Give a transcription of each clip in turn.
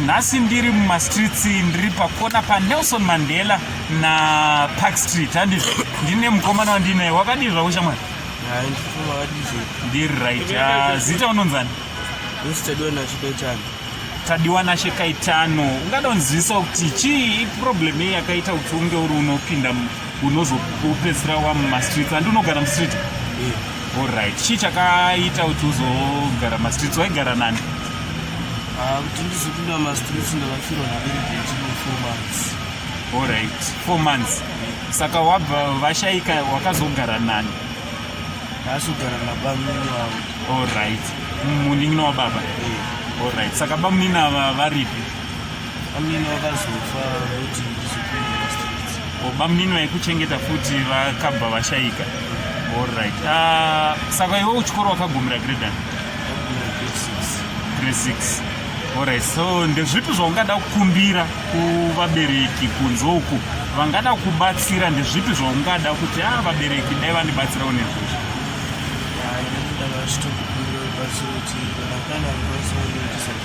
nhasi ndiri mumastreets ndiri pakona panelson mandela napark street handizvo ndine mukomana wandinaye wakadii zvako shamwari ndiri right ah, zita unonzani tadiwa nashe kaitano ungada unzivisawo kuti chii iproblem yei yakaita kuti unge uri unopinda unozopedzisira wa mumastreets andi unogara mustreet yeah. allright chii chakaita kuti uzogara mumastreets waigara nani ah, kuti ndizopinda mumastreets ndakafirwa naveregetinal four months allright four months yeah. saka wabva vashaika wakazogara nani ndakazogara nabamunini wavo allright munin'ina wababa yeah. allright saka bamunini ava varipi Bamnini vakazofa voti oh, bamnini vaikuchengeta futi vakabva vashaika allright uh, ah, saka iwe uchikoro wakagumira gredan grade six allright so ndezvipi zvaungada kukumbira kuvabereki kunze uku vangada kubatsira ndezvipi zvaungada kuti a ah, vabereki dai vandibatsirawo nezvozvo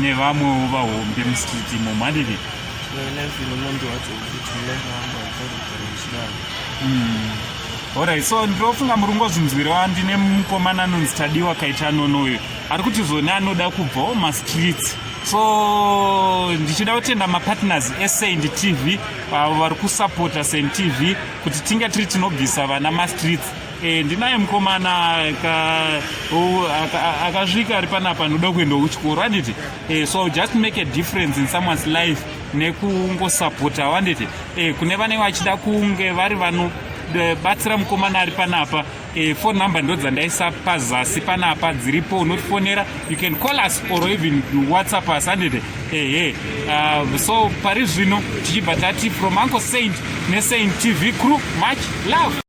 nevamwewo vahombe mustreet imo mhandiri orit mm. so ndofunga muri kungozvinzwirawa ndine mukomana anonzi tadiwa kaita nono uyo ari kuti zvone anoda kubvawo mastreets so ndichida kutenda mapartners esaint tv avo vari kusapota saint tv kuti tinge tiri tinobvisa vana mastreets Eh, ndinaye mukomana akasvika ari panapa anoda kuenda kuchikoro handiti eh, so just make a difference in someone's life nekungosapota handiti eh, kune vanenge vachida kunge vari vanobatsira mukomana ari panapa phone number ndo dzandaisa pazasi panapa dziripo unotifonera you can call us or even whatsapp us handiti ehe ah, so pari zvino tichibva tati from uncle saint nesaint tv crew much love